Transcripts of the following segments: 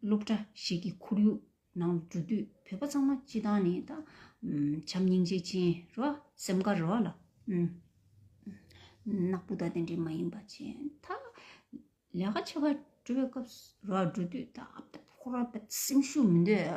སློབ་གྲྭ་ཞིག་གི་ཁོར་ཡུག་ནང་དུ་འགྲོ་དུས་བོད་པ་ཚང་མ་སྤྱི་དང་ནི་དང། བྱམས་སྙིང་རྗེ་ཅན་རོ། སེམས་དཀར་རོ། ནག་པོ་དང་དེ་འདྲས་མ་ཡིན་པ་བྱས། མཐའ་ལས་ཀ་ཆེ་བ་སྤྲོད་པའི་སྐབས་སུ་རོ་འགྲོ་དུས་ད་ཨབ་ད་ཕོ་རོ་སེམས་ཤུགས་མི་འདོད།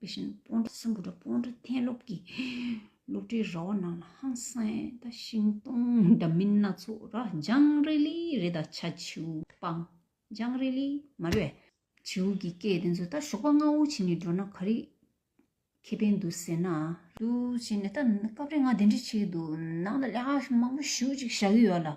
དེ་བཞིན་སྤོང་བྲ་སྲིན་པོ་དང་སྤོང་བྲ་ཐན་སློབ་ཀྱི་སློབ་གྲྭའི་ར་བ་རྣམས་ལ་ཧང་སངས་དང་ཤིང་སྡོང་འདྲ་མིན་སྣ་ཚོགས་ར་ལྗང་རི་ལི་རི་དང་བྱ་བྱིའུ་སྤང་ལྗང་རི་ལི་མ་རི་བྱིའུ་གྱིས་སྐྱེས་དེ་ཚོ་ད་ཞོགས་པ་སྔ་བོ་བྱས་ནས་འགྲོ་ན་ག་རེ་ཁེ་ཕན་འདུག་ཟེར་ན། འདུག་བྱས་ནས་ད་སྐབས་རེ་ང་དེ་འདྲ་བྱེད་ཀྱི་འདུག་ནང་ལ་ལས་ཀ་མང་པོ་ཞུ་ཅིག་བྱ་གི་ཡོད་ལ།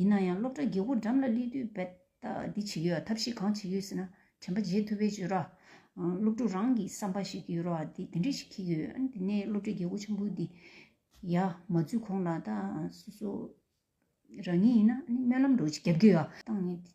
ཡིན་ན་ཡང་སློབ་གྲྭ་དགེ་སྒོ་འགྲམ་ལ་སླེབས་དུས་རྦད་ད་འདི་བྱེད་ཀྱི་ཡོད་ཐབས་ཤེས་གང་བྱེད་ཀྱི་ཡོད་ཟེར་ན་དྲན་པ་བརྗེད་ཐུབ་པའི་བརྗོད་ར། སློབ་ཕྲུག་རང་གིས་བསམ་པ་ཞིག་ཡོད་ར་དེ་དེ་འདྲས་ཤིག་འཁེལ་གྱི་ཡོད། དེ་ནས་སློབ་གྲྭའི་དགེ་སྒོ་ཆེན་པོ་འདི་ཡ་མ་འཛུལ་གོང་ལ་ད་སོ་སོ་རང་ཉིད་ཡིན་ན་སྨོན་ལམ་འགྲོ་ཆེད་རྒྱབ་ཀྱི་ཡོད། བཏང་ནས།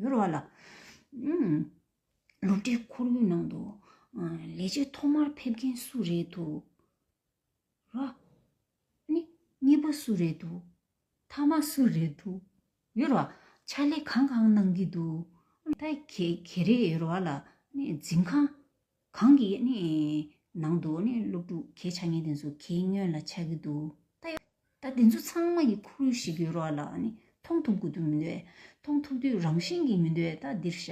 ཡོད་རེད་བ་ལ། སློབ་གྲྭའི་ཁོར་ཡུག་ནང་དུ། ལས་བྱེད་ཐོག་མར་ཕེབས་མཁན་སུ་རེད་འདུག་ར། ནི། གཉིས་པ་སུ་རེད་འདུག་ཐ་མ་སུ་རེད་འདུག་ཡོད་རེད་བ། ཕྱག་ལས་གང་གང་གནང་གི་འདུག་ར། ད་གེ་རེད་ཡོད་རེད་བ་ལ། ནི་འཛིན་ཁང། གང་གི་ནི་ནང་དུ་ནི་སློབ་ཕྲུག་གི་ཆ་ངེས་དེ་ཚོ་གི་སྔོན་ལ་ཆགས་ཀྱི་འདུག་ད་དེ་ཚོ་ཚང་མ་གི་ཁུ་རུ་ཞིག་གི་རོ་ལ་ནི་མཐོང་ཐུབ་དགོས་དུ་མི་འདོད་མཐོང་ཐུབ་དུས་རང་བཞིན་གྱི་མི་འདོད་ད་འདིར་ཤ་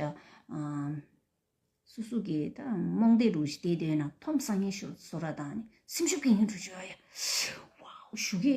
སུ་སུ་གི་ད་རྨོངས་དད་རུ་བདེ་འདོད་ན་ཐོམ་སང་ངེ་ཤོར་བཟོ་ར་དང་ནི་སེམས་ཤུགས་གི་ངེ་འགྲོ་བྱོས་ཨ་ཡ་ཨོའོ་ཞུ་གི།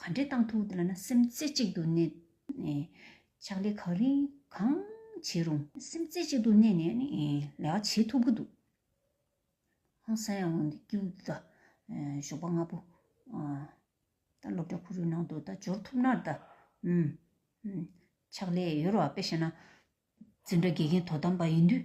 ག་འདྲའི་གཏང་ཐུག་ལ་ན་སེམས་རྩེ་གཅིག་ཏུ་གནས་ནས། ཕྱག་ལས་གང་རིང་གང་བྱེད་རུང། སེམས་རྩེ་གཅིག་ཏུ་གནས་ནས་ལས་ཀ་བྱེད་ཐུབ་ཀྱི་འདུག། ཧང་སང་ཡང་ངོ་འདི་ཀྱིའུ་ད། ཞོགས་པ་ང་པོ། ད་སློབ་གྲྭ་ཁོ་རུའི་ནང་དུ་ད་འབྱོར་ཐུབ་ནར་ད། ཕྱག་ལས་ཡོད་རོགས་ཨ་ཕས་བཤད་ན། འཛིན་གྲྭ་དགེ་རྒན་དོ་དམ་པ་ཡིན་དུས།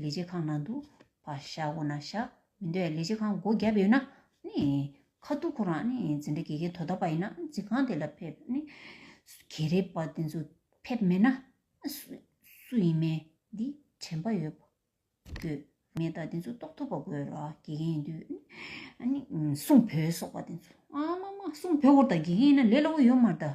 ལས་བྱེད་ཁང་ནང་དུ་བ་བཞག་འོ་ན་བཞག་མི་འདོད་ལས་བྱེད་ཁང་སྒོ་བརྒྱབ་ཡོད་ན་ནི། ཁ་ཐུག་ཁོ་རང་ནི་འཛིན་གྲྭ་དགེ་རྒན་དོ་བདག་པ་ཡིན་ན་འཛིན་ཁང་དེ་ལ་ཕེབས་ནི། གྷེ་རེ་པ་དེ་ཚོ་ཕེབས་མེད་ན། སུ་ཡིན་མེད་འདི་དྲན་པ་ཡོད་དགོས། མེད་ད་དེ་ཚོ་རྟོགས་ཐུབ་པ་དགོས་ར་དགེ་རྒན་ཡིན་དུས་ནི། གསུང་བོད་སོགས་པ་དེ་ཚོ། ཨ་མ་མ་གསུང་བོད་བོར་ད་དགེ་རྒན་ཡིན་ན་ལས་སླ་བོ་ཡོད་མ་ར་ད།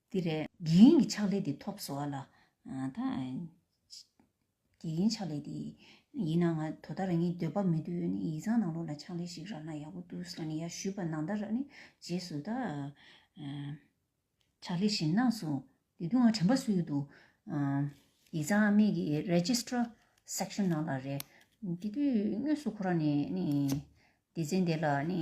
འདི་རེད། དགེ་རྒན་གྱི་ཕྱག་ལས་འདི་ཐོབ་སོ་ལ། དགེ་རྒན་ཕྱག་ལས་འདི། ཡིན་ན་ང་དོ་ད་རང་ཉིད་སྡོད་པ་མི་འདོད་ནི་ཡིག་ཚང་ནང་ལོག་ལ་ཕྱག་ལས་ཤིག་རག་ན་ཡག་པོ་འདུག་ཟེར་ནི་ཡ་ཞུས་པ་ནང་ད་རག་ནི་རྗེས་སུ་ད། ཕྱག་ལས་ཞིག་གནང་སོང། དེ་དུས་ང་དྲན་པ་སུ་ཡོད་འདུག། ཡིག་ཚང་ཨ་མེས་ཀྱི Registrar Section ནང་ལ་རེད། དེ་དུས་དངོས་སུ་ཁོ་རང་ནི་ནི་སྡེ་ཚན་དེ་ལ་ནི།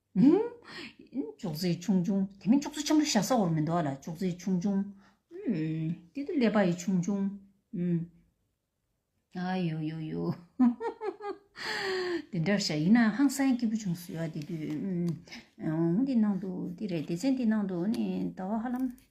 ཅོག་ཙེ་ཆུང་ཆུང་དེ་མིན་ཅོག་ཙེ་ཆེན་པོ་བཞག་ས་བོར་མི་འདུག་ལ་ཅོག་ཙེ་ཆུང་ཆུང། དེ་དུ་ཀླད་པ་ཡི་ཆུང་ཆུང། ཨ་ཡོ་ཡོ་ཡོ། དེ་འདྲར་བཞག་ཡིན་ནའང་ཧང་སངས་སྐྱིད་པོ་བྱུང་སོ་ཡ་དེ་དུས། འོ་འདི་ནང་དུ་འདི་རེད་སྡེ་ཚན་འདི་ནང་དུ་ནི་ཟླ་བ་ཧ་ལམ།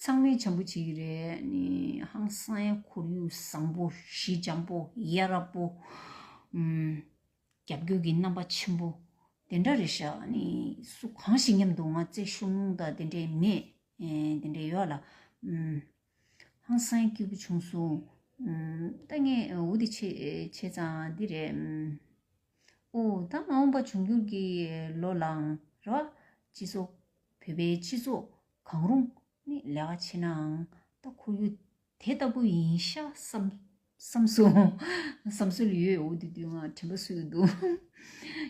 ཚང་མས་བྱམས་པོ་བྱེད་ཀྱི་རེད། ཧང་སངས་ཁོར་ཡུག་བཟང་པོ། གཞི་འཇམ་པོ། ཡ་རབས་པོ། རྒྱབ་སྐྱོར་གྱི་རྣམ་པ་ཆེན་པོ། དེ་འདྲ་རེད་ཤག། སུ་གང་ཞིག་མཉམ་དུ་ང་བརྩེ་ཤོག་མོང་དང་དེ་འདྲས་མེད། དེ་འདྲས་ཡོད་ལ། ཧང་སངས་སྐྱིད་པོ་བྱུང་སོང། ལྟ་ངན་འུ་དེ་ཆེད་བྱས་ཙང་འདི་རེད། ཨོ་ད་མ་འོངས་པ་འབྱུང་འགྱུར་གྱི་ལོ་ལའང་རེ་བ་ཅི་སོ། བོད་པའི་སྤྱི་ཚོགས་གང་རུང་ནི་ལས་ཀ་བྱེད་ནའང་ད་ཁོར་ཡུག་དེ་ལྟ་བུ་ཡིན་ཤག་བསམ་སོང། བསམ་སྲོལ་ཡོད་འོ་དུས་དུས་ང་དྲན་པ་སུ་ཡོད་འདུག་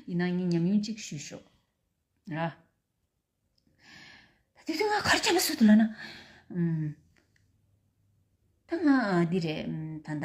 ཡིན་ན་ངས་ཉམས་མྱོང་གཅིག་ཞུས་ཤོག་ར། ད་དུས་དུས་ང་གར་བསྐྱལ་པ་སུ་འདུག་ལ་ན། ད་ང་འདི་རེད་ད་ད།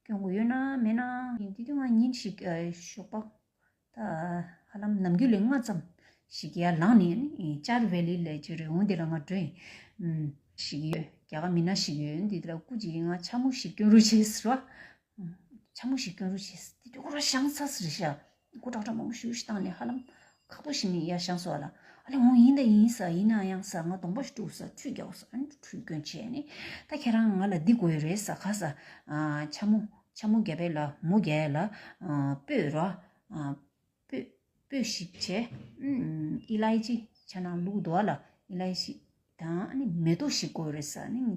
སྐྱོན་གོ་ཡོད་ན་མེད་ན། ཡིན་དུས་ང་ཉིན་ཞིག་ཞོགས་པ་ད་ཧ་ལམ་ནམ་རྒྱུན་ལས་སྔ་ཙམ་ཞིག་ཡར་ལངས་ནས་ཅར་བྷེ་ལི་ལས་ཀྱི་རི་བོང་དེ་ལ་ང་བྲོས་ཡིན། ཞིག་ཡོད་རྒྱ་གར་མི་སྣ་ཞིག་ཡོད་འདི་ལ་སྐུ་གཅིག་ང་ཆ་མོ་ཞིག་སྐྱོན་རུ་བྱེད་ཟེར་བ། ཆ་མོ་ཞིག་སྐྱོན་རུ་བྱེད་ཟེར་དེ་དུས་ཁོ་རང་ཤང་ཚ་ཟེར་ཞག་སྒོ་དྲག་དྲག་མང་པོ་ཞུ་ཞིག་བཏང་ནས་ཧ་ལམ། ཁག་པོ་ཞིག་ནས་ཡར་བྱང་སོགས་ལ། ཨ་ལེ་འོང་ཡིན་ད་ཡིན་ས་ཡིན་ན་ཡང་ས་ང་དོང་པ་ཞིག་དཀྲུགས་ས་ཁྲུས་རྒྱག་ས་ཨ་ཁྲུས་སྐྱོན་བྱས་ནས། ད་ཁྱེད་རང་ང་ལ་འདི་དགོས་རེད་ས་ག་ས། འཕྱ་མོ། འཕྱ་མོ་རྒྱ་བལ་ལ་མོ་རྒྱ་ཡལ་ལ། སྤོས་ར། སྤོས། སྤོས་ཤིག་བྱས། ཨི་ལ་ཡེ་ཅི། བྱ་ནང་ལུག་རྡོ་བ་ལ་ཨི་ལ་ཡེ་ཤི། ད་ཨ་ནི་མེ་ཏོག་ཞིག་དགོས་རེད་ས་ཨ་ནི།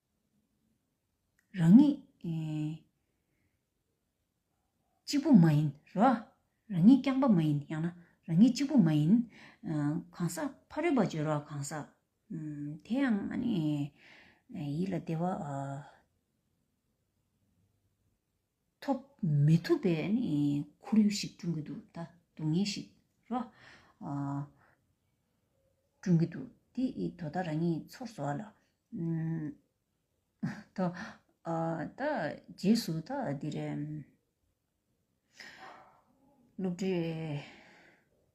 རང་ཉིད་གཅིག་པུ་མ་ཡིན་རོ། རང་ཉིད་རྐྱང་པ་མ་ཡིན་ཡང་ན་རང་ཉིད་གཅིག་པུ་མ་ཡིན། གང་ཟག་ཕ་རོལ་པ་བརྗོད་རོགས་གང་ཟག། དེ་ཡང་ཡིད་ལ་བདེ་བ། ཐོབ་མི་ཐུབ་པའི་ཁོར་ཡུག་ཞིག་བསྐྲུན་གྱི་འདུག་ད་སྡུག་བསྔལ་ཞིག་རོ། བསྐྲུན་གྱི་འདུག་དེ་དོ་ད་རང་ཉིད་ཚོར་བཟོ་བ་ལ། ད་རྗེས་སུ་ད་འདིར། སློབ་གྲྭའི།